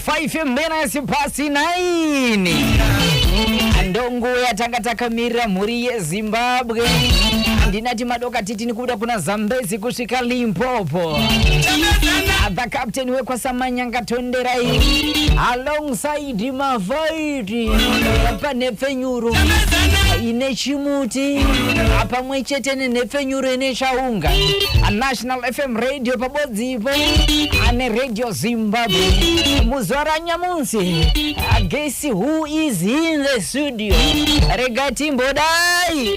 Five minutes past nine. Ndongo yatanga takamirira mhuri yeZimbabwe. Ndinati madoka titini kubuda kuna Zambezi kusvika Limpopo. The captain wekwaSamanyanga Tonderai alongside Mavai apa nhepfenyuro ine chimuti pamwe chete nenhepfenyuro ine chaunga anational fm radio pabodzipo ane radio zimbabwe muzuva ranyamusi agesi who is in the studio rega timbodai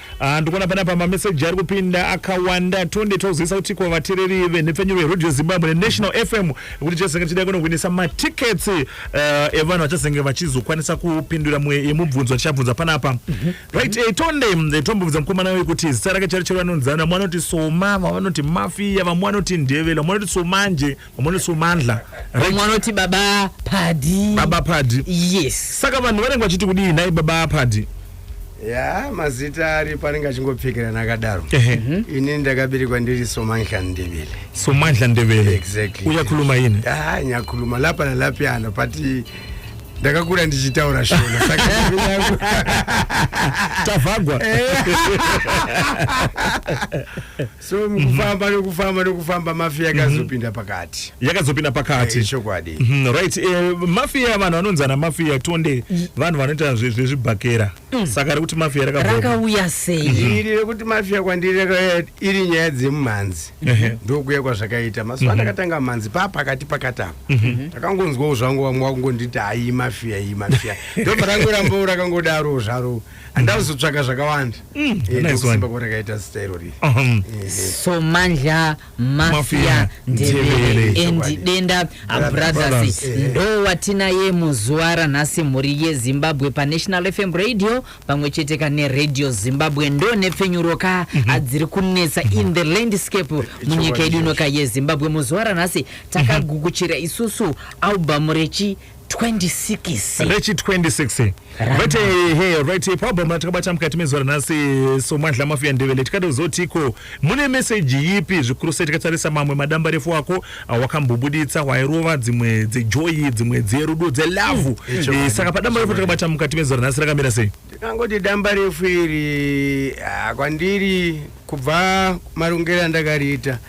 Ah, ndikuona panapa mameseji ari kupinda akawanda tonde tozivisa kuti kwavatereri venhepfenyuro yerodio zimbabwe nenational fm kuti chazenge chidai kunohwinisa matickets uh, evanhu vachazenge vachizokwanisa kupindura mwe yemubvunzo tichabvunza panapa mm -hmm. right hey, eh, tonde eh, tombobvunza mukomana wekuti kuti zita rake chari chero vanonzana vamwe vanoti soma vamwe vanoti mafiya vamwe vanoti ndevela vamwe vanoti somanje amone so mandla vamwe vanoti baba padi baba padi yes saka vanhu vanenge vachiti kudii nhai baba padi ya mazita ari panenge achingopfekerana akadaro mhm. ini ndakaberekwa ndiri somandla ndebele somandla ndebele exactly uyakhuluma yini ah nyakhuluma lapa nalapyana but ndakakura ndichitaura shona tavhagwa eh. so mukufamba nekufamba nekufamba mafia yakazopinda mhm. pakati yakazopinda pakati eh, chokwadi mhm, right eh, mafia vanhu vanonzi ana mafia tonde vanhu vanoita zvezvibhakera mm. saka rekuti mafia rakauya sei mhm. iri rekuti mafia kwandiri iri nyaya dzemumhanzi ndokuya kwazvakaita mazuva ndakatanga mhanzi pa pakati pakati apa ndakangonzwawo zvangu vamwe vakungonditi ayi mafia iyi mafia ndobva rangorambao rakangodaro zvaro handava kuzotsvaka zvakawanda mm, eh, ndokusimba kuona kaita zita irori uh-huh. eh, somandla mafia ndevere and denda abrothers ndo watinaye muzuva ranhasi mhuri yezimbabwe panational fm radio pamwe chete kane radio zimbabwe ndo nepfenyuro ka mhm. adziri kunetsa mhm. in the landscape munyika yedu inoka yezimbabwe muzuva ranhasi mhm. takagukuchira isusu albamu rechi 26 rechi 26 vete he right pabhom ratakabata mukati mezuva ranhasi somwadla mafiya ndevele tikada kuzotiko mune meseji yipi zvikuru sei tikatarisa mamwe madamba refu ako awakambobuditsa wairova dzimwe dzejoyi dzimwe dzerudo dzelavhu mm. eh, saka padamba refu takabata mukati mezuva ranhasi rakamira sei ndikangoti damba refu iri ah, kwandiri kubva marongero andakariita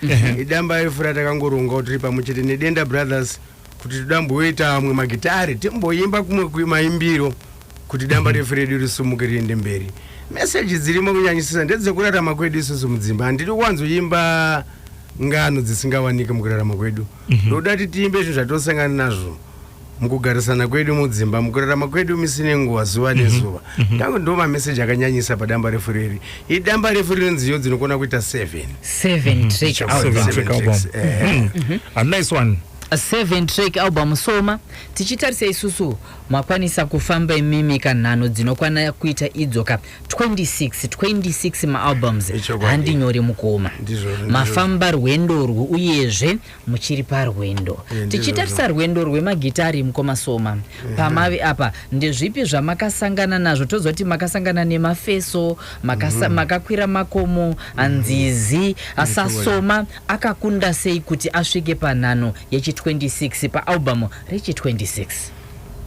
idamba refu ratakangoronga kuti riri pamwe chete nedenda brothers kuti toda mboita amwe magitare timboimba kumwe kuimaimbiro kuti damba refu redu risumuke riende mberi meseji dzirimo kunyanyisisa ndedzekurarama kwedu isusu mudzimba handidi kuwanzoimba ngano dzisingawanike mukurarama kwedu ndoda kuti tiimbe zvinhu zvatosangana nazvo mukugarisana kwedu mudzimba mukurarama kwedu misi nenguva zuva nezuva mhm. ndangu ndo mameseji akanyanyisa padamba refu riri idamba refu riri nziyo dzinokona kuita 7 mhm. track album eh. mhm. a nice one seven track album soma tichitarisa isusu makwanisa kufamba imimi kanhano dzinokwana kuita idzo ka 26 26 maalbums handinyore mukoma mafamba rwendo urwu uyezve muchiri parwendo eh, tichitarisa rwendo rwemagitari mukoma soma eh. pamavi apa ndezvipi zvamakasangana nazvo toziva kuti makasangana nemafeso mhm. makakwira makomo anzizi asasoma akakunda sei kuti asvike panhano yechi26 paalbum rechi26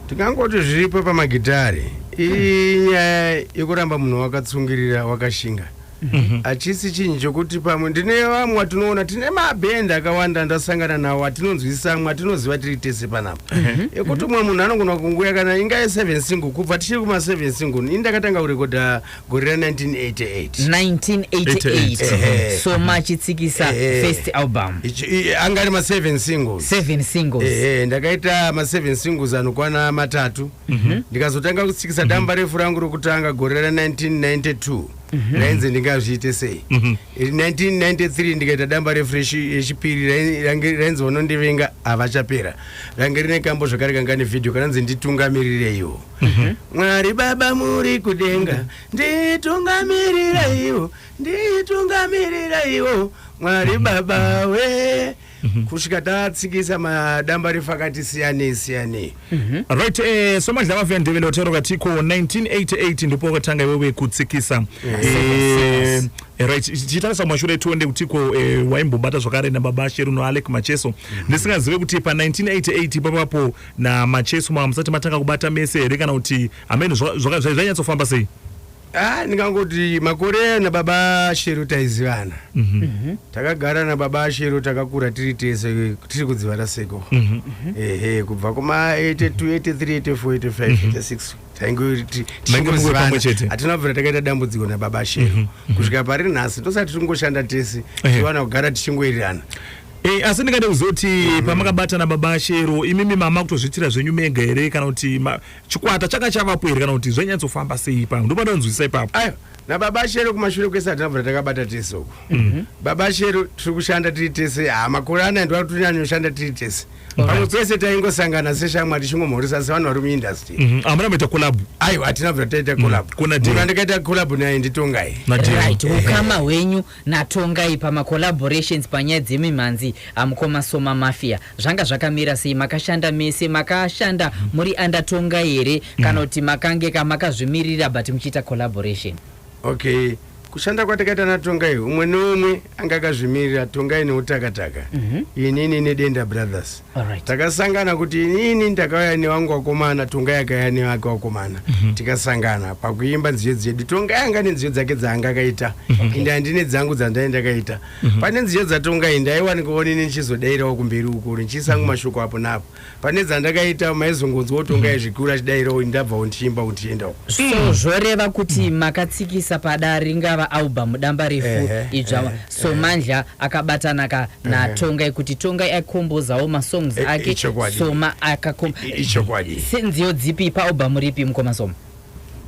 tingangoti zviripo pamagitari inyaya yekuramba munhu wakatsungirira wakashinga Mhm. hachisi chinhu chokuti pamwe ndine vamwe watinoona tine mabhendi akawanda ndasangana nawo atinonzwisisa amwe atinoziva tiri tese panapa mhm. ekuti umwe munhu anogona kunguya kana inga ye7 single kubva tichiri kuma7 single ini ndakatanga kurekodha gore ra 1988 so machitsikisa first album anga ari ma7 singles ndakaita ma7 singles anokwana matatu mhm. ndikazotanga kutsikisa damba refu rangu rokutanga gore ra 1992 Mhm. rainzi ndingazviite sei 1993 mhm. ndikaita damba refresh yechipiri rainzi vanondivenga havachapera range rine kambo zvakare kanga nevhidhiyo kananzi nditungamiriraiwo mhm. mwari baba muri kudenga nditungamiriraiwo nditungamiriraiwo mwari baba wee Mhm. kusvika tatsikisa madamba refu akati siyanei siyanei mhm. right eh, somadla vavuya ndevele vatero vatiko 1988 ndipo wakatanga iwewe kutsikisa eh, eh, right chitarisa kumashure tionde kutiko eh, waimbobata zvakare nababa sheru noalec macheso mhm. ndisingazive kuti pa1988 ipapapo namacheso mamusati matanga kubata mese here kana kuti hameno zvakanyatsofamba sei Ah, ndingangoti makore na baba shero taizivana Mhm. takagara na baba shero takakura tiri tese tiri kudzivana seko Mhm. ehe kubva kuma 82 83 84 85 86 tainge ti- Mainge muri pamwe chete? tichingozivana hatina kubvira takaita dambudziko na baba shero kusvika pari nhasi ndosati tingoshanda tese Ehe. tiwana kugara tichingoirirana Eh, asi ndingade kuzoti pamakabatana baba shero imimi mama kutozviitira zvenyu mega here kana kuti ma- chikwata changa chavapo here kana kuti zvainyatsofamba sei ipapo ndopandanzwisisa ipapo ayo nababa shero kumashure kwese hatinabvura takabata tese uku mhm. baba shero tiri kushanda tiri tese ha makore anaya ndiwatonyanyooshanda tiri tese pamwe pese taingosangana seshamwa tichingomhoresa sevanhu vari muindustry mhm. hamuna maita collab aiwa hatinabvura taita collab mhm. munhu andikaita collab naye nditongai ukama hwenyu naTongai pama collaborations panyaya dzemimhanzi amukoma Soma Mafia zvanga zvakamira sei makashanda mese makashanda muri under Tongai here kana kuti makange ka makazvimirira but muchiita collaboration okay kushanda kwatakaita natongai umwe neumwe anga akazvimirira tongai neutakataka inini nedenda brothers Alright. takasangana kuti inini ndakauya newangu wakomana tongai akauya nevake wakomana tikasangana pakuimba nziyo dzedu tongai anga nenziyo dzake dzaanga akaita ende handine dzangu dzandai ndakaita pane nziyo dzatongai ndaiwanika onini ndichizodairawo kumberi ukuru ndichisangu mashoko apo napo pane dzandakaita maizongonzwawo tongai zvikuru achidairawo ini ndabvawo ndichiimba kuti tiendawo so zvoreva kuti makatsikisa pada ringava album damba refu Ehe, idzva ehe. somandla akabatanaka natongai kuti tongai akombozawo masongs Eh, ake ichokwadi. soma akakom I- ichokwadi. senziyo dzipi paalbum ripi mukoma soma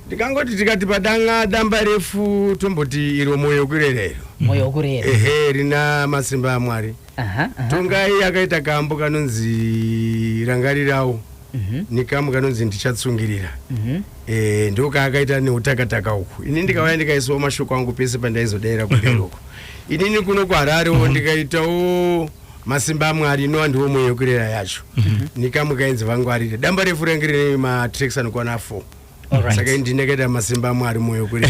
ndikangoti tikati padanga damba refu tomboti iro moyo kurerero moyo wokurera ehe rina masimba amwari aha aha. tongai akaita kambo kanonzi rangarirawo Mhm. nekamu kanonzi ndichatsungirira mhm. eh, ndokaakaita neutakataka uku ini ndikauya ndikaiswa mashoko angu pese pandaizodaira kumberi uku inini kuno kuhararewo mhm. ndikaitawo masimba amwari no andiwo mweyo kurera yacho nekamu kainzi vangwarire damba refu range rine matraks anokwana fo saka ndineketa masimba amwari moyo kuri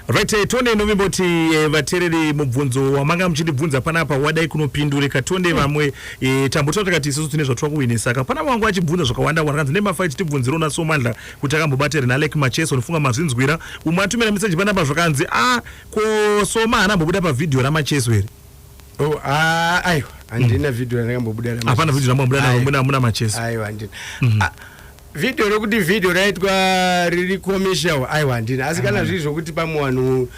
right eh, tonde inovimboti eh, vatereri mubvunzo wamanga muchindibvunza panapa wadai kunopindurika tonde mm. vamwe eh, tambotaura takati isusu tine zvatwa kuwinisa ka pana wangu achibvunza zvakawanda wanda kanzi nemafa ichitibvunzira una somandla kuti akambobata here nalek macheso ndifunga mazvinzwira umwe atumira meseji panapa zvakanzi a ah, ko soma haana ambobuda pavhidhiyo ramacheso here oh, ah, aiwa handina mm. vhidhiyo randakambobuda hapana vhidhiyo rambobuda naro muna macheso aiwa handina mm. ah, video rokuti video raitwa riri commercial aiwa handina asi kana mm. zviri zvokuti pamwe vanhu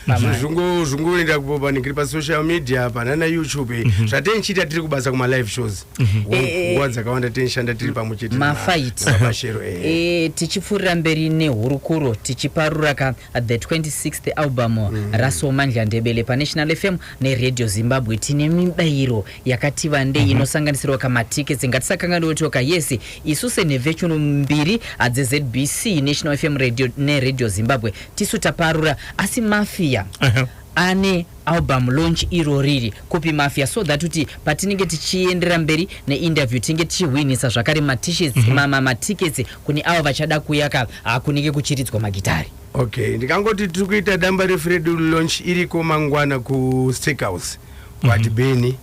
zvungoenda kupanikiri pasocial media panana youtube mhm. zvatei chiita tiri kubasa kumalive shows mhm. nguva eh, eh. dzakawanda tenishanda tiri pamwe chete mafaitimashero eh. tichipfuurira mberi nehurukuro tichiparuraka the 26th album mm. rasomandla ndebele panational fm neradio zimbabwe tine mibayiro yakati vandei mm -hmm. inosanganisirwa kamatickets ngatisakanganiwo toka yes isu senhevechunu mbiri adzezbc national fm radio neradio zimbabwe tisu taparura asi mafia uh -huh. ane album launch iro riri kupi mafia so that kuti patinenge tichiendera mberi neinterview tinenge tichihwinisa zvakare matishets mm -hmm. matickets kune avo vachada kuya ka hakunenge kuchiridzwa magitari okay ndikangoti tiri kuita damba refu redu launch iriko mangwana kusteakhouse kwati mm -hmm. beni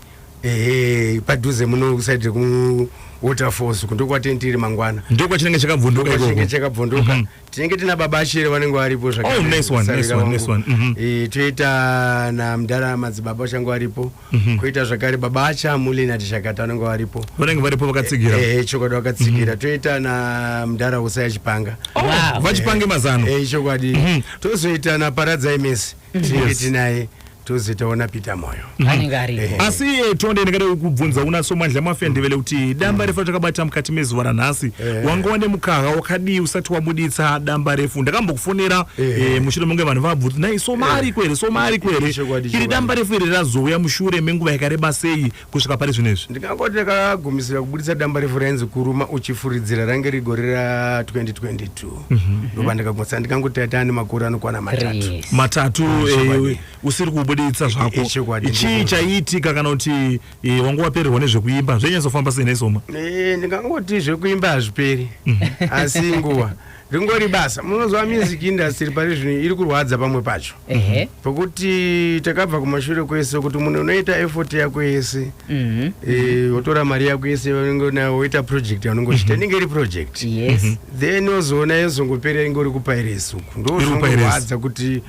ehe padhuze muno kusaidire ku waterfalls kundo kwatenti iri mangwana ndo kwachinenge chakabvunduka ikoko chinenge chakabvunduka mm -hmm. tinenge tina baba ashere vanenge varipo zvakare oh nice one nice one nice one mm -hmm. e, toita na mdara madzibaba vachange varipo mm -hmm. koita zvakare baba acha muli na tishakata vanenge varipo vanenge varipo vakatsigira eh e, chokwadi vakatsigira mm -hmm. toita na mdara usaya chipanga oh, wow. vachipange mazano eh e, chokwadi mm -hmm. tozoita na paradza imesi mm -hmm. tinenge yes. tinaye tozitaona peter moyo mhm. anenge ariko eh. asi iye tonde ndingada kukubvunza una somandla mafendevele mm. kuti damba refu ratakabata mukati mezuva ranhasi eh. wanga wane mukaha wakadii usati wabuditsa damba refu ndakambokufonera eh. mushure menge vanhu vabvunza nai somari kwere somari kwere iri damba refu iri razouya mushure menguva yakareba sei kusvika pari zvino izvi ndingangoti ndakagumisira kubuditsa damba refu rainzi kuruma uchifuridzira range rigore ra 2022 mhm. ndobva ndikagumisa ndingangoti taita ane makore anokwana matatu matatu eh, usiri kubuditsa zvako ichii chaiitika kana kuti eh, wanga wapererwa nezvekuimba zvenyanyisofamba sei nesoma eh, ndingangoti zvekuimba hazviperi mhm. asi nguva ringori basa munoziva music industry pari zvino iri kurwadza pamwe pacho ehe pokuti takabva kumashure kwese kuti munhu unoita effort yako yese mhm eh, wotora mari yako yese vanenge unayo woita project yaunongochita inenge iri project yes then ozoona yozongopera inge uri kupairesi uku Iri kupairesi. ndozvinohwadza kuti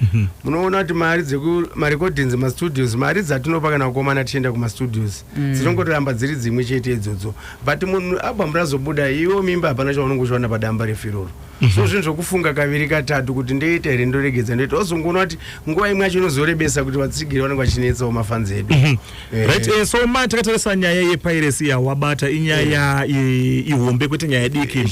munoona kuti mari dzeku marecordings mastudios mari dzatinopa kana kukomana tichienda kumastudios dzinongoramba dziri dzimwe chete idzodzo but munhu abhamu razobuda iwo mimba hapana chaunenge uchiwana padamba refu iroro mm -hmm. so zvinhu zvokufunga kaviri katatu kuti ndoita here ndoregedza ndoita ozongoona kuti nguva imwe yacho inozorebesa kuti vatsigiri vanenge vachinetsawo mafanzi edu mm -hmm. eh. right, eh, so ma takatarisa nyaya yepiracy yawabata inyaya eh. ihombe kwete nyaya diki eh,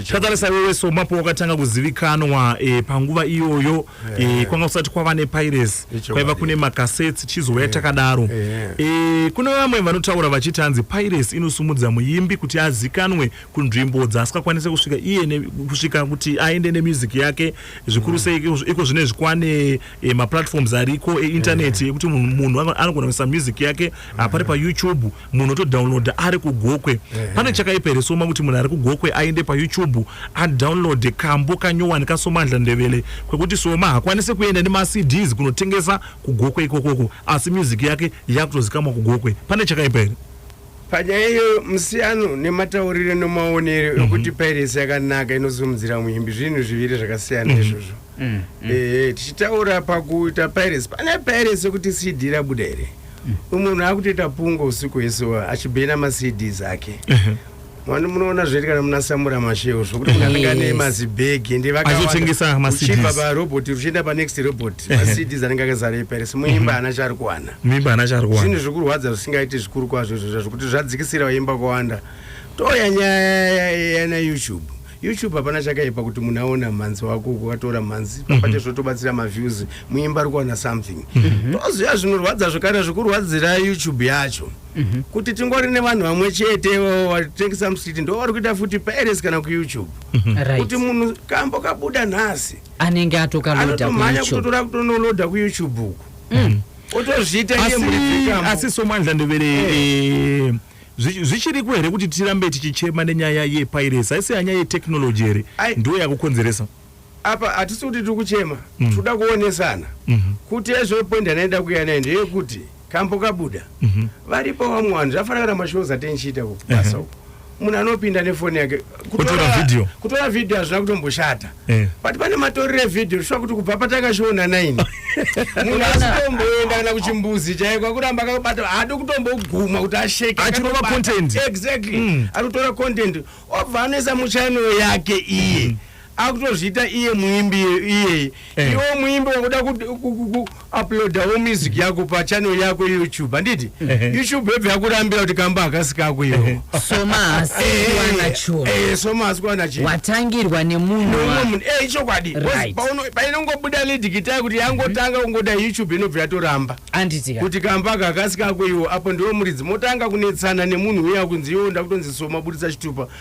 takatarisa iwewe so mapo wakatanga kuzivikanwa eh, panguva iyoyo yeah. e, kwanga kusati kwava nepiracy kwaiva kune makasets chizouya yeah. takadaro yeah. e, kune vamwe vanotaura vachiti hanzi piracy inosumudza muimbi kuti azikanwe kunzvimbo dzaasikakwanise kusvika iye ne, kusvika kuti aende nemusic yake zvikuru sei mm. iko zvine zvikwane e, maplatforms ariko eintaneti yeah. ekuti munhu anogona kuisa music yake yeah. apari payoutube munhu otodownloada ari kugokwe pane chakaipa here soma kuti munhu ari kugokwe aende payoutube adownloade kambo kanyowani kasomandla ndevele kwekuti soma hakwanise kuenda nemacds kunotengesa kugokwe ikokoko asi music yake yakutozikamwa kugokwe pane chakaipa here panyaya iyoyo musiyano nematauriro nemaonero mhm. ekuti pairesi yakanaka inosimudzira muimbi zvinhu zviviri zvakasiyana mhm. izvozvo mhm. ehe tichitaura pakuita pairesi pane pairesi yekuti cd rabuda here umwe munhu akutoita pungo usiku hwese achibhena maCDs ake mwana munoona zviri kana munasamura masheu zvokuti munhu anenge ane mazibhegi ende vakatengesa maCDs parobot ruchienda panext robot maCDs anenge akazara iparis muimba haana mhm. chaari kuwana muimba haana chaari kuwana zvinhu zvikurwadza zvisingaiti zvikuru kwazvo izvozvo zvekuti zvadzikisira vaimba kwawanda toya nyaya yana youtube YouTube hapana chakaipa kuti munhu aona mhanzi wako ukatora mhanzi mhm. papate zvotobatsira maviews muimba ari kuwana something mhm. toziva zvinorwadza zvekare zvekurwadzira YouTube yacho mhm. kuti tingori nevanhu vamwe chete vatengesa musiti ndo vari kuita futi paeres kana kuyoutube kuti munhu kambo kabuda nhasi anenge atokalodanotomhanya kutotora kutonoloda kuyoutube uku mm. otozviita asi somandla ndovere eh. eh, zvichiriko here kuti tirambe tichichema nenyaya yepirates haisi yanyaya yetechnology here ndiyo yakukonzeresa apa hatisi kuti tiri kuchema mm. tikuda kuonesana mhm. kuti ezvepoint anaenda kuya naye ndeyekuti kambo kabuda mhm. varipo vamwe vanhu zvafanira kana mashows atenchiita kubasa uko munhu anopinda nefoni yake kutora video kutora video hazvina kutomboshata eh. but pane matoriro evideo zvisva kuti kubva patakazviona naini munhu asitomboenda kana kuchimbuzi chaiko akuramba akabata haadi kutomboguma kuti asheke achitora content exactly mm. ari kutora content obva anoisa muchannel yake iye mm. akutozviita iye muimbi iyeye eh. iwo muimbi wakuda kuuploadawo music mm. yako pachannel yako youtube handiti eh, eh. youtube yobva yakurambira kuti kamba akasikako iwo somaasiwanachowatangirwa nemunhuumwe ichokwadi painongobuda lidikitai kuti yangotanga kungoda youtube inobva yatoramba kuti kamba aka akasikako iwo apo ndiwo muridzi motanga kunetsana nemunhu uya kunzi iwo ndakutonzi soma budisa chitupa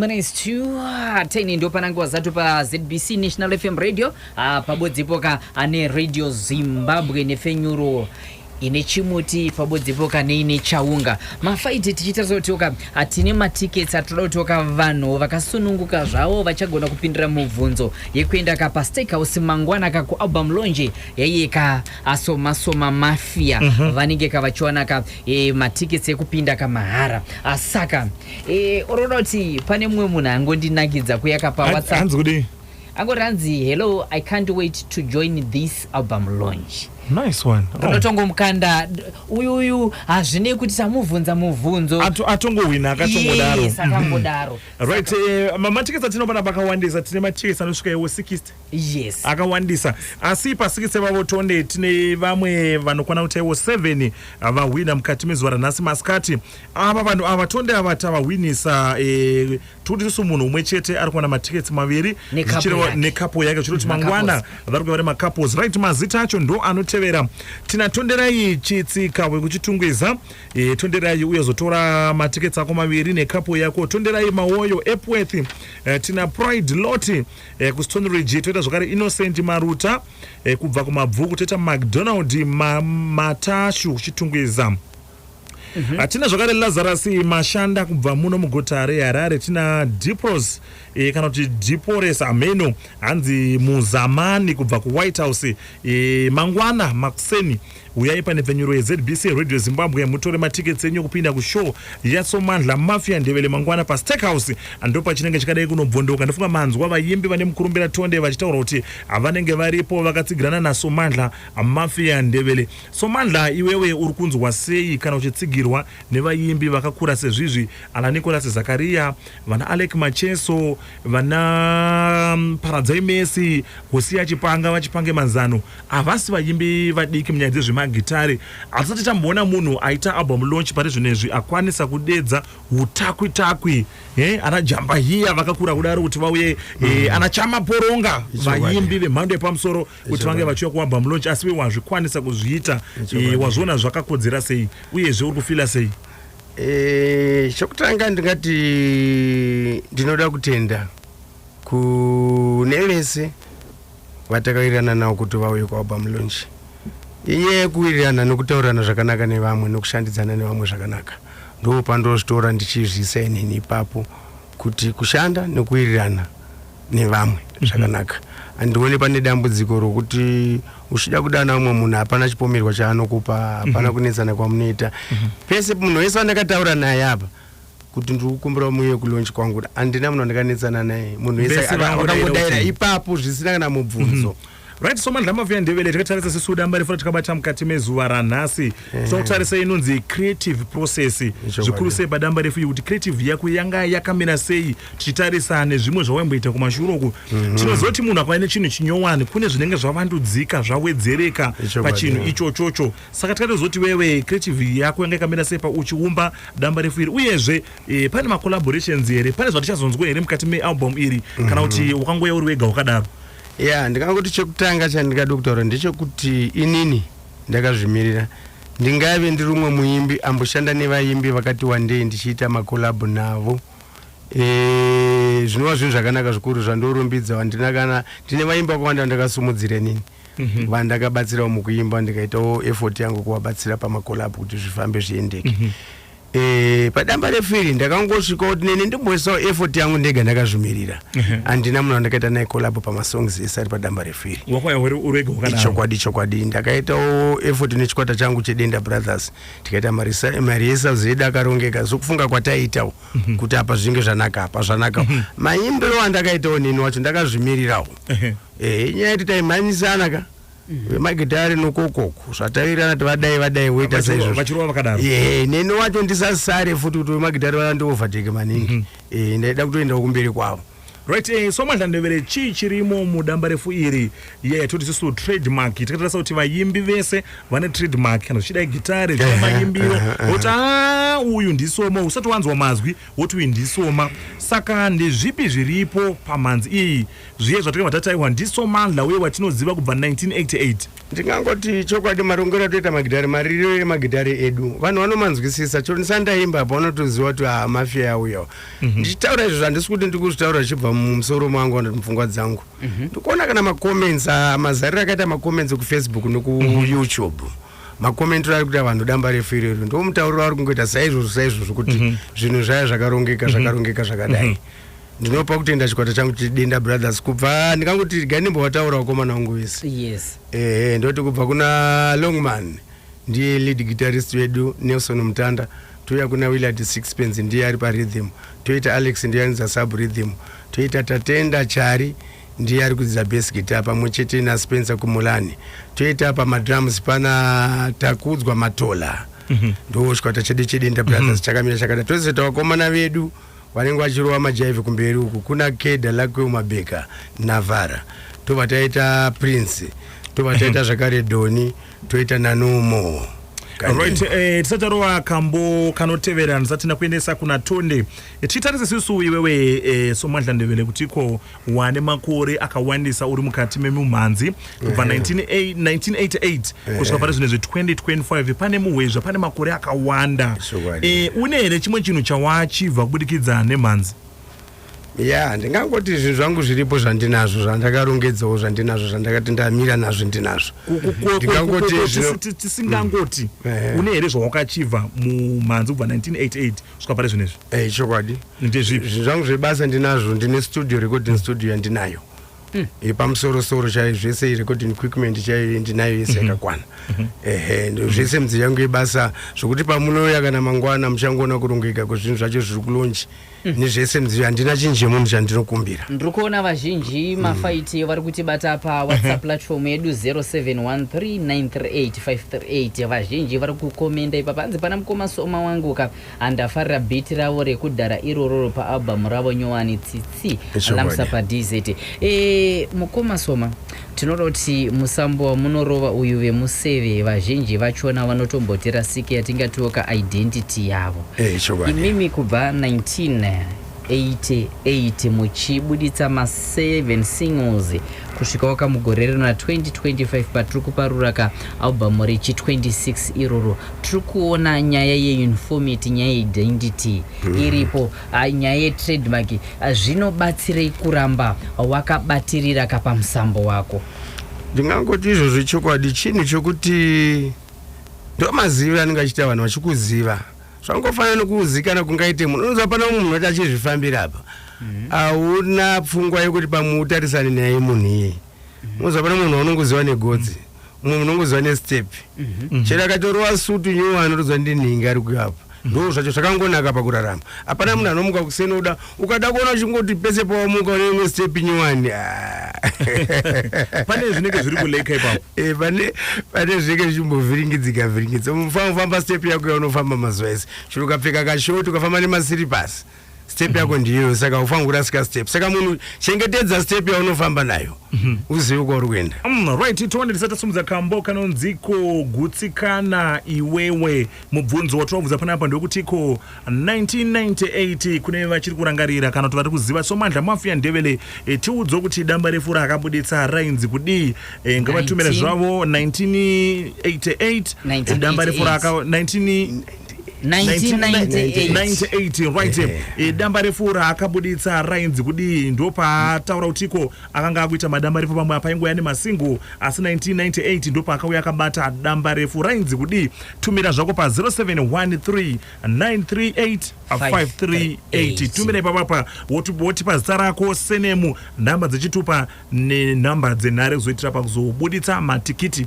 minutes to 10 ndo pananguva zatu pazbc national fm radio ah, pabodzepo ka ane radio zimbabwe nefenyuro ine chimuti ipapo dzipoka neine chaunga mafaiti tichitarisa kuti oka hatine matickets atinoda kuti oka vanhu vakasununguka zvavo vachagona kupindira mubvunzo yekuenda ka pasteakhouse mangwana ka kualbum lonje yaiye ka asomasoma mafia mm -hmm. vanenge ka vachiwana ka e, matickets ekupinda ka mahara asaka e, oroda kuti pane mumwe munhu angondinakidza kuyaka pawhatsapp angoti hanzi hello i can't wait to join this album launch nice one oh. ndotongomukanda uyu uyu hazvinei kuti tamubvunza mubvunzo atongohwina akatongodaro yes, akangodaro mm. right eh, mamatiketsi atino pana pakawandisa tine matiketsi anosvika iwo 60 yes akawandisa asi pasikitsi vavo tonde tine vamwe vanokwana kuti iwo 7 vahwina mukati mezuva ranhasi masikati ava vanhu ava tonde ava tavahwinisa eh, tikuti tisu munhu umwe chete ari kuwana matickets maviri nekapo yake zvichiroti mangwana vari kuva nemacapos right mazita acho ndo anotevera tina tonderai chitsika wekuchitungwiza e, tonderai uye zotora matickets ako maviri nekapo yako tonderai mawoyo epworth e, tina pride loti e, eh, kustone ridge toita zvakare innocent maruta e, kubva kumabvuku toita macdonald ma, matashu kuchitungwiza Mhm. hatina zvakare lazarus mashanda kubva muno muguta reharare tina dipros e, kana kuti dipores ameno hanzi muzamani kubva kuwhite house e, mangwana makuseni huyai pane pfenyuro yezbc radio zimbabwe mutore matickets enyu kupinda kushow yasomandla mafia ndevele mangwana pastake house ndo pachinenge chikadai kunobvondoka ndofunga manzwa vayimbi vane mukurumbira tonde vachitaura kuti vanenge varipo vakatsigirana nasomandla mafia ndevele Somandla iwewe uri kunzwa sei kana uchitsigirwa nevaimbi vakakura sezvizvi ana Nicholas Zakaria, vana Aleck Macheso, vana Paradzai Mercy, Hosiah Chipanga, VaChipange Manzano. Havasi vaimbi vadiki munyaya dzezvemagitare. Hatisati tamboona munhu aita album launch pari zvinezvi akwanisa kudedza hutakwi takwi eh, ana Jamba Hiya vakakura kudaro kuti vauye eh, ana Chama Poronga Ichokwadi. vaimbi vemhando yepamusoro kuti vange vachiuya kumabhambu lonch asi iwe wazvikwanisa kuzviita eh, wazviona zvakakodzera sei uyezve uri kufila sei Eh, chokutanga ndingati ndinoda kutenda kune vese vatakawirirana navo kuti vauye kwaobam launch inyaya yekuwirirana nokutaurirana zvakanaka nevamwe nokushandidzana nevamwe zvakanaka ndopandozvitora ndichizviisa inini ipapo kuti kushanda nekuwirirana nevamwe mhm. zvakanaka mm -hmm. andione pane dambudziko rokuti uchida kudana umwe munhu hapana chipomerwa chaanokupa hapana mm -hmm. kunetsana kwamunoita mm -hmm. pese munhu wese wandakataura naye apa kuti ndiri kukumbira muye kulonch kwangu andina munhu andikanetsana naye munhu wese akangodaira ipapo zvisina kana mubvunzo mm -hmm. Right so mandla mavuya ndevele tikatarisa sesu damba refu ratakabata mukati mezuva ranhasi tinokutarisa eh. inonzi creative process zvikuru sei padamba refu kuti creative yako yanga yakamira sei tichitarisa nezvimwe zvawaimboita kumashure uku mhm. tinozoti munhu akava nechinhu chinyowani kune zvinenge zvavandudzika zvawedzereka pachinhu ichochocho saka tikatozoti wewe creative yako yanga yakamira sei pauchiumba damba refu iri uyezve eh, pane macollaborations here pane zvatichazonzwa here mukati mealbum iri kana mhm. kuti wakangoya uri wega wakadaro ya yeah, ndikangoti chekutanga chandingada kutaura ndechekuti inini ndakazvimirira ndingaive ndiri umwe muimbi amboshanda nevaimbi vakati wandei ndichiita makolabho navo e, zvinova zvinhu zvakanaka zvikuru zvandorumbidza wandina kana ndine vaimbi vakawanda vandakasumudzira nini mhm. vandakabatsirawo mukuimba ndikaitawo effort yangu kuvabatsira pamakolabho kuti zvifambe zviendeke mhm. Eh, padamba refu iri ndakangosvika kuti neni ndimboisawo effort yangu ndega ndakazvimirira handina munhu wandakaita naye collabo pamasongs ese ari padamba refu iri ichokwadi chokwadi ndakaitawo effort nechikwata changu chedenda brothers tikaita mari yesazi yedu akarongeka sokufunga kwataiitawo mhm. kuti apa zvinge zvanaka apa zvanaka mhm. maimbiro andakaitawo neni wacho ndakazvimirirawo eh, nyaya yati taimhanyisana ka vemagitare nokokoko zvatavirana kuti vadai vadai voita saizvovachirova vakadaro e neni wacho ndisasare futi kuti vemagitare vana ndiovateke maningi mm -hmm. e, ndaida kutoendawo kumberi kwavo right eh, so madlandevere chii chirimo mudamba refu iri iya yatoti isisu trademark tikatarisa kuti vayimbi vese vane trademark kana zvichida igitare zvichida mayimbiro woti a uyu ndisoma usati wanzwa mazwi woti uyu ndisoma saka ndezvipi zviripo pamhanzi iyi Zviye zvatakabva tataiwa ndiSomandla uye watinoziva kubva 1988. Ndingangoti chokwadi marongero atoita magitare maririro emagitare edu vanhu vanomanzwisisa chero ndisati ndaimba apa vanotoziva kuti haa mafia yauyawo mhm. ndichitaura izvo zvandisi kuti ndiri kuzvitaura zvichibva mumusoro mangu kana kuti mupfungwa dzangu mhm. ndikuona kana macomments ah, mazariro akaita macomments kufacebook nekuyoutube mhm. makomentiro ari kuita vanhu damba refu irero ndo mutauriro ari kungoita saizvozvo saizvozvo kuti zvinhu zvaya zvakarongeka zvakarongeka zvakadai ndinopa kutenda chikwata changu chidenda brothers kubva ndikangoti gai ndimbowataura vakomana wangu vese yes ehe ndoti kubva kuna longman ndiye lead guitarist wedu nelson mutanda touya kuna willard sixpens ndiye ari parhythm toita alex ndiye anidza sub rhythm toita tatenda chari ndiye ari kudzidza bas guitar pamwe chete naspencer kumulani toita pamadrums pana takudzwa matola mm -hmm. ndo chikwata chedu chedenda brothers mm -hmm. chakamira chakada tozitawakomana vedu vanenge vachirova majaive kumberi uku kuna keda lakwe umabeka navara tobva taita prince tobva taita zvakare doni toita nanumo right eh, tisati tarova kambo kanotevera ndisati ndakuendesa kuna tonde eh, tichitarise susu iwewe eh, somwadla ndevele kuti ko Wane makore akawandisa uri mukati memumhanzi kubva 1988 kusvika pane zvine zve 2025 pane muhwezva pane makore akawanda e, une here chimwe chinhu chawachibva kubudikidza nemhanzi ya ndingangoti zvinhu zvangu zviripo zvandinazvo zvandakarongedzawo zvandinazvo zvandakati ndamira nazvo ndinazvo tisingangoti une here zvawakachibva mumhanzi kubva 1988 kusvika pari zvinezvi hey, eh, chokwadi ndezvipi zvinhu zvangu zvebasa ndinazvo ndine studio recording studio yandinayo hmm. yepamusorosoro chaiyo zvese recording equipment chaiyo ndinayo yese mhm. yakakwana mhm. ehe mhm. zvese midziyo yangu yebasa zvokuti pamunouya kana mangwana muchangoona kurongeka kwezvinhu zvacho zviri kulonji hmm. nezvese midziyo handina chinji yemunhu chandinokumbira ndiri kuona vazhinji hmm. mafaiti vari kutibata pawhatsapp platform yedu 071393 538 vazhinji vari kukomenda ipa panzi pana mukoma soma wangu ka andafarira biti ravo rekudhara irororo paalbum ravo nyowani tsitsi lamsa padz e, eh, mukoma soma tinoda kuti musambo wamunorova uyu vemuseve vazhinji vachona vanotombotera sike yatingatiwo ka identity yavo hey, eh, imimi kubva 19 88 muchibuditsa ma 7 singles kusvikawo ka mugore rino ra 2025 patiri kuparura ka album rechi 26 iroro tiri kuona nyaya yeuniformity nyaya yeidentity mm. iripo nyaya yetrademark zvinobatsirei kuramba wakabatirira ka pamusambo wako ndingangoti izvozvo chokwadi chinhu chokuti ndomazivi anenge achiita vanhu vachikuziva zvangofanana nokuzikana kungaite munhu unonzi hapana mumwe munhu ati achizvifambira apa mhm. hauna pfungwa yekuti pamwe utarisane naye munhu iyeye mhm. unonzi hapana munhu waunongoziva negotsi mhm. umwe munongoziva nestep chero akatorova sutu nyuwa anotodzwa ndinhingi ari kuyo apa ndo zvacho zvakangonaka pakurarama hapana munhu anomuka kusenoda ukada kuona chingoti pese pawamuka une imwe step nyowani ah. pane zvinenge zviri kuleka ipapo eh, pane pane zvinenge zvichimbovhiringidzika vhiringidzika mufana kufamba step yako yaunofamba mazuva ese chero ukapfeka kashoti ukafamba nemasiripasi step yako mhm. ndiyo saka haufanira kurasika step saka munhu chengetedza step yaunofamba nayo mhm. uzive kwauri kuenda mm, right tione tisati tasumudza kambo kanonziko gutsikana iwewe mubvunzo watiwabvunza panapa ndewekutiko 1998 kune vachiri kurangarira kana kuti vari kuziva somandla mafia ndevele e, tiudzwe kuti damba refu raakabuditsa rainzi kudii e, ngavatumire zvavo 1988 e, damba refu raaka 19 1998 right yeah. e, damba refu raakabuditsa rainzi kudii ndopaataura kutiko Akanga akuita madambarefu pamwe apa aingouya nemasingle asi 1998 ndopaakauya akabata dambarefu rainzi kudii? Tumira zvako pa 0713938538 tumira ipapa pa wotipa zita rako senemu nhamba dzechitupa nenhamba dzenhare kuzoitira pakuzobuditsa matikiti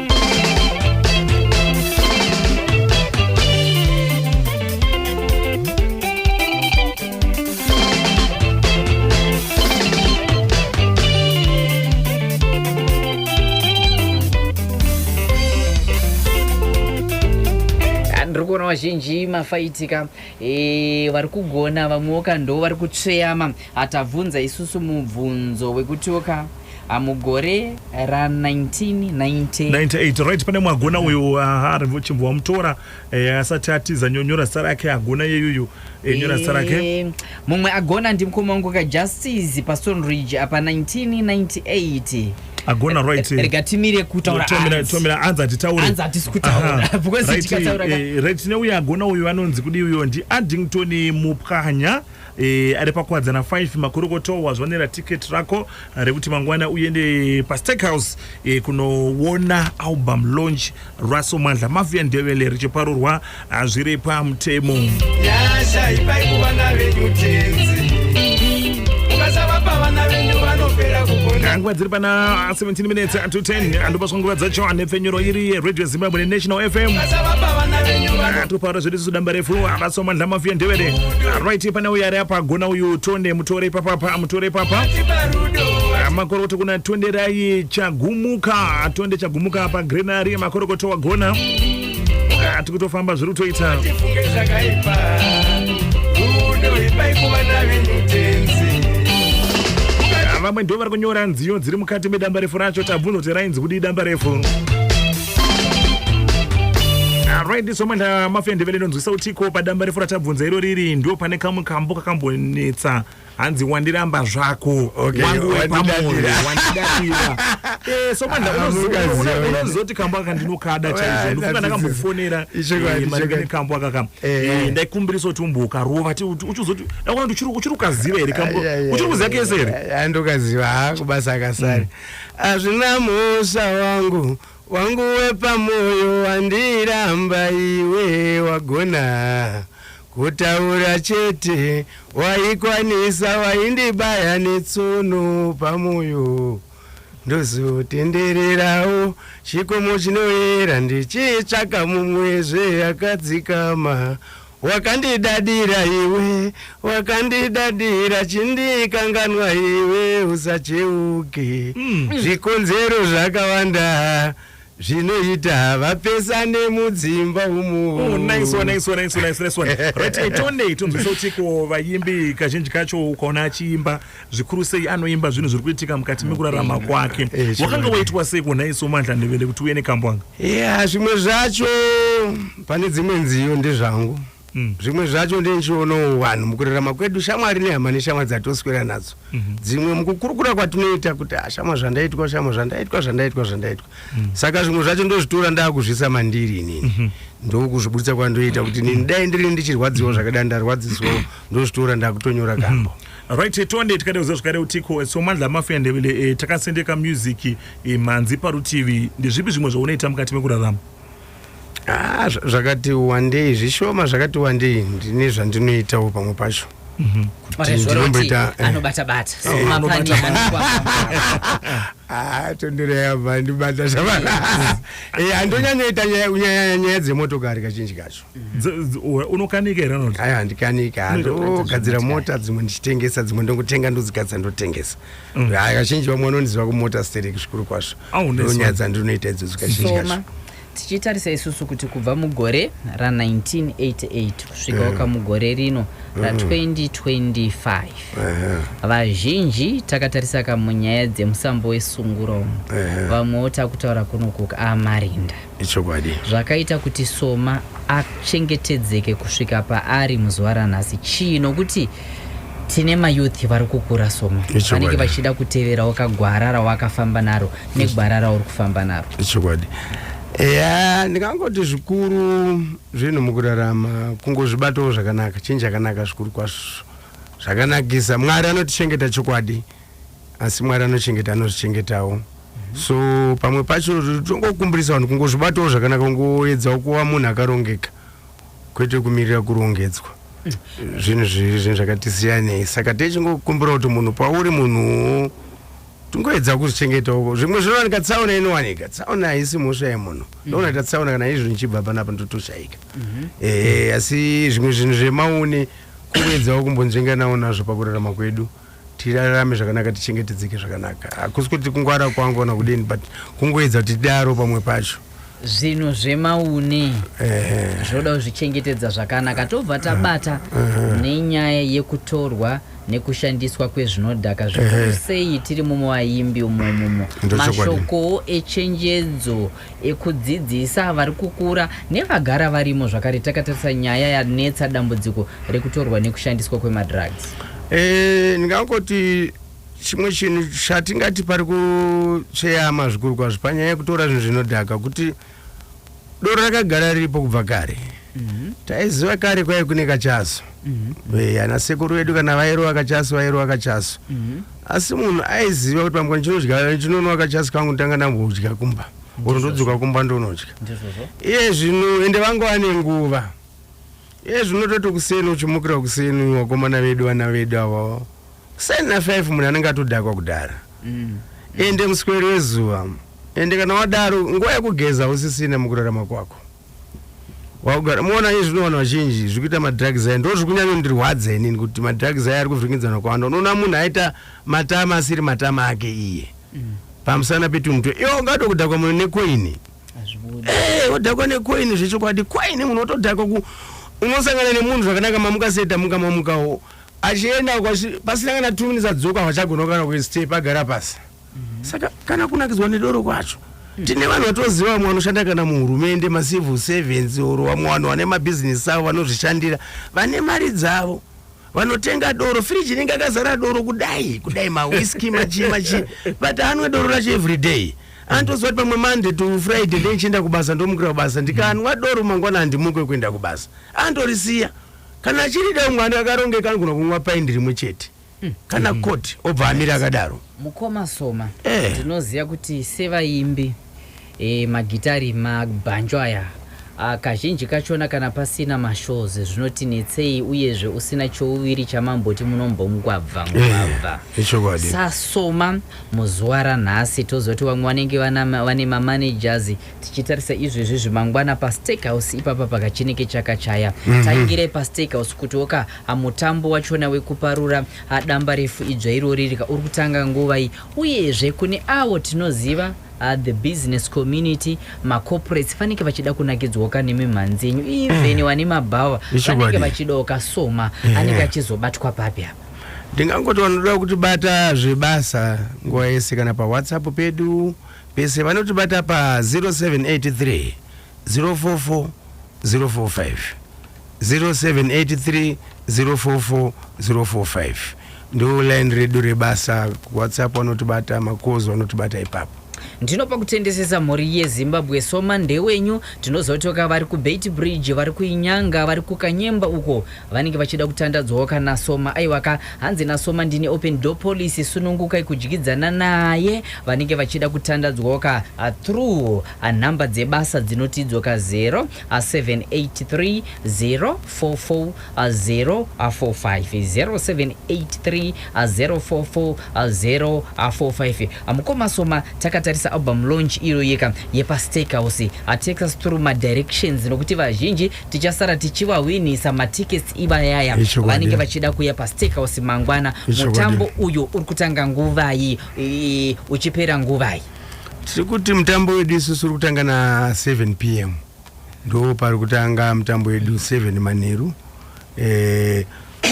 vazhinji mafaitika e, vari kugona vamwewo ka ndo vari kutsveyama hatabvunza isusu mubvunzo wekutioka Ah, mugore ra 1990 98 right pane mwagona uyu aha ari chimbo wamutora eh, asati atiza nyo- nyora zita rake agona yeyuyu eh, nyora zita rake Eh, mumwe agona ndimukoma wangu ka justice pastone ridge apa 1998 agona right eh. rega timire kutaura Tomira- hanzi. tomira anzi hatitaure Hanzi hatisi kutaura. Aha. Because Right, tikataura ka- eh, right tine uyu agona uyu anonzi kudii uyo ndi addington mupwanya Eh, ari pakuwadzana 5 makorokoto wazvanera ticket rako rekuti mangwana uende pasteakhouse eh, kunoona album launch russell mandla mafia ndevele richiparurwa ah, zviri pamutemo nyasha ipai kuvana venyu tenzi ukasavapa vana venyu vanopera kugona nguva dziri pana 17 minutes to 10 andopa swa nguva dzacho anepfenyuro iri radio Zimbabwe ne National FM topara zvedu isu damba refu havasoma ndlama fiye ndevere right pane uyo ari apa agona uyu tonde mutore papapa mutore papa makorokoto kuna tonderai chagumuka tonde chagumuka apa grenari makorokoto wagona tiri kutofamba zviri kutoita vamwe ndo vari kunyora nziyo dziri mukati medamba refu racho tabvunza kuti Dzikudi damba refu. Alright, this moment uh, mafia ndevele ndonzwisa utiko padamba refu ratabvunza iro riri ndo pane kamwe kambo kakambonetsa hanzi wandiramba zvako okay, wangu wepamoyo wandidatira eh, so manda unozoti kambo aka ndinokada chaizvo ndofunga ndakambofonera eh, marekene kambo aka ka eh, eh. ndaikumbirisa kuti umboka rova ti uchizoti ndakuona kuti uchiri ukaziva here kambo uchiri kuziva kese here ndokaziva ha kubasa akasari mm. Azvina mhosva wangu wangu wepamoyo wandiramba iwe wagona kutaura chete waikwanisa waindibaya netsono pamoyo ndozotendererawo chikomo chinoyera ndichitsvaka mumwezve akadzikama Wakandidadira iwe, wakandidadira chindikanganwa iwe usacheuke mm. Zvikonzero zvakawanda zvinoita vapesane mudzimba umuotonzwisa oh, utiko vayimbi kazhinji kacho ukaona achiimba zvikuru sei anoimba zvinhu zviri kuitika mukati mekurarama kwake eh, wakanga waitwa sei kunhai somandla ndevele kuti uye nekambwanga ya zvimwe zvacho pane dzimwe nziyo ndezvangu mm. zvimwe zvacho ndenichionawo vanhu mukurarama kwedu shamwari nehama neshamwa dzatoswera nadzo mhm. dzimwe mukukurukura kwatinoita kuti ah, shamwa zvandaitwa shamwa zvandaitwa zvandaitwa zvandaitwa mm. saka zvimwe zvacho ndozvitora ndakuzvisa mandiri inini mhm. ndokuzvibudisa kwandoita kuti nini dai ndiri ndichirwadziwa zvakadai ndarwadziswa ndozvitora ndakutonyora kambo mhm. Right, tonde tikada kuziva zvakare kuti ko Somandla Mafia Ndebele eh, takasendeka music eh, mhanzi parutivi ndezvipi zvimwe zvaunoita mukati mekurarama? Ah, zvakati wandei zvishoma zvakati wandei ndine zvandinoitawo pamwe pacho mhm. ndinomboita eh. anobata bata ah, tondero yabva ndibata zvavana eh, andonyanyoita nyaya dzemotokari kazhinji kacho unokanika here anoti aya handikanike handogadzira mota dzimwe ndichitengesa dzimwe ndongotenga ndodzigadzira ndotengesa mm. aya kazhinji vamwe vanondiziva kumota stereki zvikuru kwazvo ndonyaya dzandinoita idzodzo kazhinji kacho tichitarisa isusu kuti kubva mugore ra1988 kusvika waka mm. mugore rino mm. ra2025 vazhinji takatarisa ka munyaya dzemusambo wesunguro vamwewo takutaura kunokuka amarinda ichokwadi zvakaita kuti soma achengetedzeke kusvika paari muzuva ranhasi chii nokuti tine mayouth vari kukura soma vanenge vachida kuteverawo kagwara rawakafamba naro negwara rauri kufamba naro ichokwadi ya ndingangoti zvikuru zvinhu mukurarama kungozvibatawo zvakanaka chinhu chakanaka zvikuru kwazvo zvakanakisa mwari anotichengeta chokwadi asi mwari anochengeta anozvichengetawo mm -hmm. so pamwe pacho tongokumbirisa vanhu kungozvibatawo zvakanaka kungoedzawo kuva munhu akarongeka kwete kumirira kurongedzwa mm. zvinhu zviri zvinhu zvakati siyanei saka techingokumbira kuti munhu pauri munhuwo tingoedza kuzvichengeta uko zvimwe zvinowanika tsaona inowanika tsaona haisi mhosva yemunhu mhm. ndoonaita tsaona kana izvo ndichibva panapa ndotoshaika mhm. eh, asi zvimwe zvinhu zvemaune kuedzawo kumbonzvenganawo nazvo pakurarama kwedu tirarame zvakanaka tichengetedzeke zvakanaka hakusi kuti kungwara kwangu kana kudini but kungoedza kuti tidaro pamwe pacho zvinhu zvemaune zvoda kuzvichengetedza zvakanaka tobva tabata nenyaya yekutorwa nekushandiswa kwezvinodhaka zvikuru sei tiri mumo vaimbi umomumo mashokowo echenjedzo ekudzidzisa vari kukura nevagara varimo zvakare takatarisa nyaya yanetsa dambudziko rekutorwa nekushandiswa kwemadrugs eh, ndingangoti chimwe chinhu chatingati pari kutsveyama zvikuru kwazvo panyaya yekutora zvinhu zvinodhaka kuti doro rakagara riripo kubva kare mhm. taiziva kare kwaive kune kachaso mhm. eh, ana sekuru vedu kana vairova kachaso vairova kachaso mhm. asi munhu aiziva kuti pamukana chinodya chinono wakachasi kangu nditanga ndambodya kumba or ndodzoka kumba ndonodya iye zvino ende vangu vane nguva iye zvino toti kuseni uchimukira kuseni wakomana vedu vana vedu ava kuseni na five munhu anenge atodhakwa kudhara mm. ende musweri wezuva ende kana wadaro nguva yekugeza usisina mukurarama kwako wakugara muona iye zvino vanhu vazhinji zviri kuita madrugs aya ndo zviri kunyanyondirwadza inini kuti madrugs aya ari kuvhiringidzana kwawanda unoona munhu aita matama asiri matama ake iye mm. pamusana petunhu twe iwo ungato kudhakwa munhu nekoini eh, odhakwa nekoini zvechokwadi koini munhu otodhakwa ku unosangana nemunhu zvakanaka mamuka seta muka mamukawo achienda pasina kana two minutes adzoka vachagona kana kustepa agara pasi saka kana kunakidzwa nedoro kwacho tine vanhu vatoziva vamwe vanoshanda kana muhurumende macivil servants or vamwe vanhu vane mabhizinesi avo vanozvishandira vane mari dzavo vanotenga doro firiji inenge akazara doro kudai kudai mawiski machii machii but anwe doro racho every day anotoziva kuti pamwe monday to friday ndee ndichienda kubasa ndomukira kubasa ndikanwa doro mangwana handimuke kuenda kubasa anotorisiya kana achirida umwe ane akarongeka anogona kunwa paindi rimwe chete kana court obva amira akadaro mukoma soma Eh. ndinoziva kuti sevaimbi eh, magitari mabhanjo aya ah, kazhinji kachona kana pasina mashows zvinotinetsei uyezve usina chouviri chamamboti munombomugwabva mugwabva ichokwadi sasoma muzuva ranhasi tozoti vamwe vanenge vana- vane mamanagers tichitarisa izvezvi zvimangwana pasteakhouse ipapa pakachineke chakachaya taingirai pasteakhouse kutiwo ka Mutambo wachona wekuparura damba refu idzva irori rika uri kutanga nguva iyi uyezve kune avo tinoziva uh, the business community macorporates fanike vachida kunakidzwoka nemimhanzi yenyu even wane mm. mabhawa vanenge vachidawo kasoma eh. anenge achizobatwa papi apa ndingangoti vanoda kutibata zvebasa nguva yese kana pawhatsapp pedu pese vanotibata pa 0783 044045 0783 044045 ndo line redu rebasa whatsapp wanotibata makoz wanotibata ipapo ndinopa kutendesesa mhuri yezimbabwe soma ndewenyu tinozotoka vari kubeit bridge vari kuinyanga vari kukanyemba uko vanenge vachida kutandadzwawo kana soma aiwaka hanzi nasoma ndine open door policy sunungukai kudyidzana naye vanenge vachida kutandadzwawo ka ah, through A Nhamba dzebasa dzinoti dzoka 0 a 783 044 045 0783 044 045 Mukoma Soma takatarisa album launch iyo yeka yepa Steakhouse a takes us through ma directions nokuti vazhinji tichasara tichivahwinisa ma tickets ivayaya Ichokwadi. vanenge vachida kuya pa Steakhouse mangwana Ichokwadi. mutambo uyo uri kutanga nguvai i- uchipera nguvai tiri kuti mutambo wedu isusu uri kutanga na 7 pm ndo pari kutanga mutambo wedu 7 manheru eh,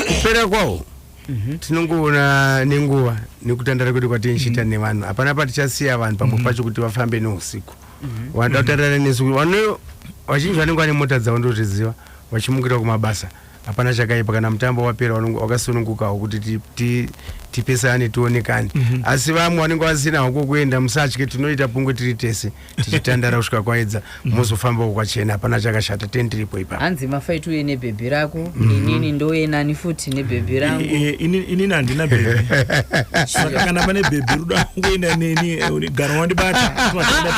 kupera kwawo mhm. tinongoona nenguva nekutandara kwedu kwatichiita mhm. nevanhu hapana patichasiya vanhu pamwe mhm. pacho kuti vafambe neusiku vanoda kutandara nesu vazhinji vanenge vane mota dzavo ndozviziva vachimukira kumabasa hapana chakaipa kana mutambo wapera wakasunungukawo kuti tipesane tionekane mhm. asi vamwe vanenge vasinawo kwokuenda musatye tinoita pungwe tiri tese tichitandara kusvika kwaedza mhm. mozofambawo kwachena hapana chakashata ten tiripo ipa hanzi mafaiti uye nebhebhi rako mhm. inini ndouye nani futi nebhebhi rangu inini handina bhebhi saka kana pane bhebhi rudo akuenda neni eh, garo wandibata tinotaenda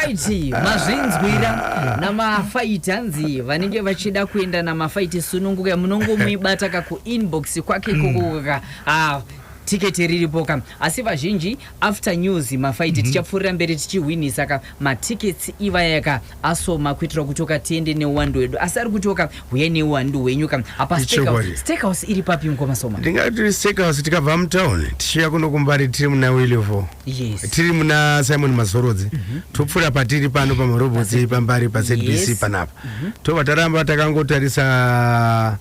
tese mazvinzwira namafaiti vakadzi vanenge vachida kuenda namafaiti sununguka munongomuibata ka kuinbox kwake kukuka ah, tiketi riripo ka asi vazhinji after news mafaiti tichapfuurira mberi tichihwinhisa ka matickets ivaya ka asoma kuitira kuti oka tiende neuwandu wedu asi ari kuti oka huyai neuwandu hwenyu ka apa Steakhouse- Ichokwadi. steakhouse iri papi mukoma soma ndingati steakhouse tikabva mutown tichiuya kuno kumbari tiri muna willivo yes. tiri muna simon mazorodzi mm -hmm. topfuura patiri pano pamarobotsi pambari pazbc yes. panapa mm -hmm. tobva taramba takangotarisa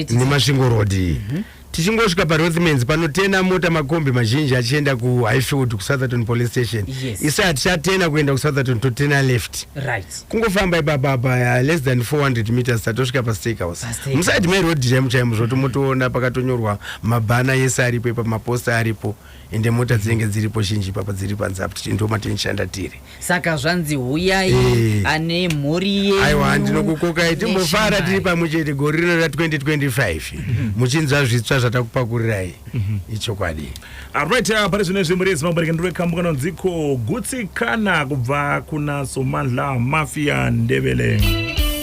nemasvingo road mm -hmm tichingosvika parothmans panotena mota makombi mazhinji achienda kuhighfield kusotherton police station yes. isa hatichatena kuenda kusotherton totena left right. kungofamba ipapapa uh, less than 400 meters tatosvika pastake house musaidi meroad chaimo chaimo zvotomotoona pakatonyorwa mabhana yese aripo ipapamaposta aripo ende mota dzinenge dziripo zhinji ipapa dziri panze apa tichiti ndomatinishanda tiri saka zvanzi huyai Eh. ane mhuri yenyu aiwa ndinokukokai timbofara Neshimai. tiri pamwe chete gore rino ra 2025 muchinzwa zvitsva zvatakupakuriraiyi ichokwadi Alright, uh, pari zvino izvi muri Zimbabwe rega ndiri kambo kanonziko gutsikana kubva kuna Somandla Mafia Ndebele.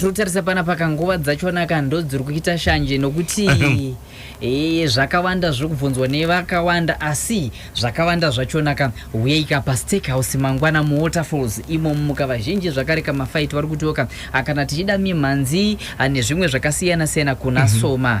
tiritarisa pana paka nguva dzachona ka ndo dziri kuita shanje nokuti ee zvakawanda zviri kubvunzwa nevakawanda asi zvakawanda zvachona ka huyeika pastake house mangwana muwaterfalls imo mumuka vazhinji zvakare ka mafaiti vari kutiwo ka akana tichida mimhanzi ah, nezvimwe zvakasiyana siyana kuna mhm. soma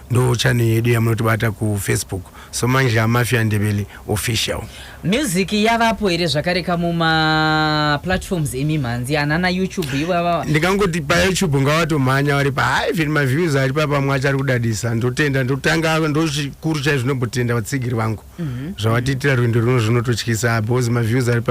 ndo channel yedu yamunotibata kufacebook so manje amafia ndebele official music yavapo here zvakare ka mumaplatforms emimhanzi anana youtube ivava ndikangoti payoutube ngavatomhanya vari paivhen maviews ari papamwe achari kudadisa ndotenda ndotanga ndochikuru chaizvo ndombotenda vatsigiri vangu mhm. zvavatiitira rwendo runo zvinototyisa because maviews ari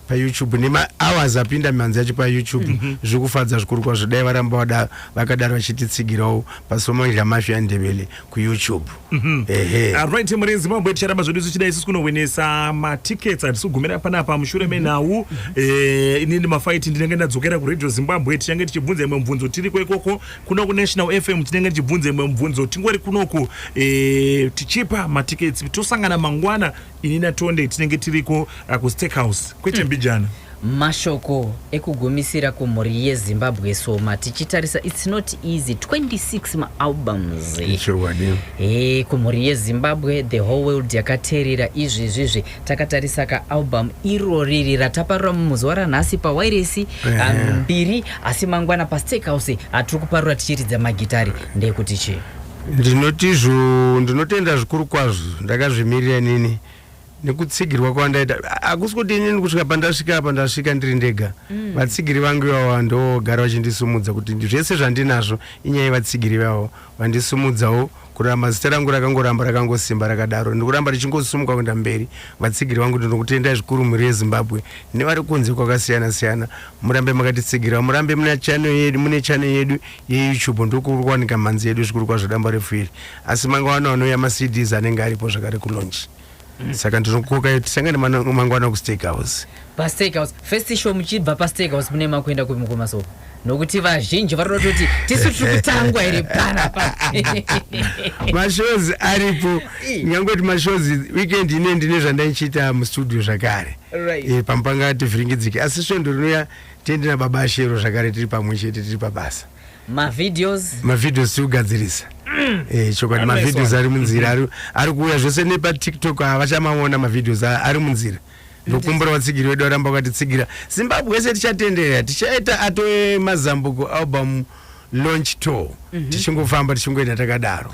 payoutube nemahours apinda mihanzi yacho payoutube mhm. zviri kufadza zvikuru kwazvo dai varamba vada vakadaro vachititsigirawo pasomangila mafia andevele kuyoutube mhm. ehe ah, right mhuri yezimbabwe ticharamba zvedu tichidai sisi kunohwenesa matickets hatisi kugumira panapa mushure menhau eh, inini mafaiti ndinenge ndadzokera kuradio zimbabwe tichange tichibvunza imwe mubvunzo tiriko ikoko kuno kunational fm tinenge tichibvunza imwe mubvunzo tingori kunoku e, tichipa matikets tosangana mangwana ini natonde tinenge tiriko uh, kusteakhouse kwete hmm. mbijana mashoko ekugumisira kumhuri yezimbabwe soma tichitarisa its not easy 26 maalbums e, kumhuri yezimbabwe the whole world yakateerera izvizvizvi takatarisa kaalbum iro riri rataparura muzuva ranhasi pawairesi ah, mbiri asi mangwana pastake house hatiri kuparura tichiridza magitari ndeyekuti chii ndinoti zvo ndinotenda zvikuru kwazvo ndakazvimirira inini nekutsigirwa kwandaita A- hakusi kuti inini kusvika pandasvika apa ndasvika ndiri ndega vatsigiri vangu ivavo ndogara vachindisumudza kuti ndi- zvese zvandinazvo inyaya yevatsigiri ivavo Vandisimudzawo kuramba zita rangu rakangoramba rakangosimba rakadaro ndikuramba richingosumuka kuenda mberi vatsigiri vangu ndinokutendai zvikuru mhuri yezimbabwe nevari kunze kwakasiyana siyana murambe makatitsigirawo murambe mune channel yedu mune channel yedu yeyoutube ndokuri kuwanika mhanzi yedu zvikuru kwazvo damba refu iri asi mangwana anouya macds anenge aripo zvakare kulonji saka ndinokukokai kuti tisangane mangwana kustake house pastake house first show muchibva pastake house mune makuenda kumukoma so nokuti vazhinji vari kutoti tisu tiri kutangwa here panapa mashows aripo nyangoti mashows weekend ine ndine zvandaichiita mustudio zvakare right. e, eh, pamupanga tivhiringidzike asi svondo rinouya tiende nababa ashero zvakare tiri pamwe chete tiri pabasa mavideos mavideos tiri kugadzirisa mm. eh, chokwadi mavideos ari munzira mm-hmm. ari kuuya zvose nepatiktok havachamaona mavideos ari munzira ndokumbura vatsigiri wedu varamba vakatitsigira zimbabwe yese tichatenderera tichaita ato emazambuko album launch tour mm-hmm. tichingofamba tichingoenda takadaro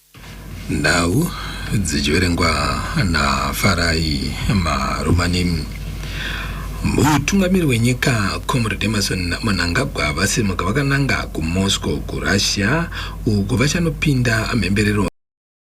Nhau dzichiverengwa naFarai Marumani. Mutungamiri wenyika Comrade Emerson Mnangagwa vasimuka vakananga kuMoscow kuRussia uko vachanopinda mhemberero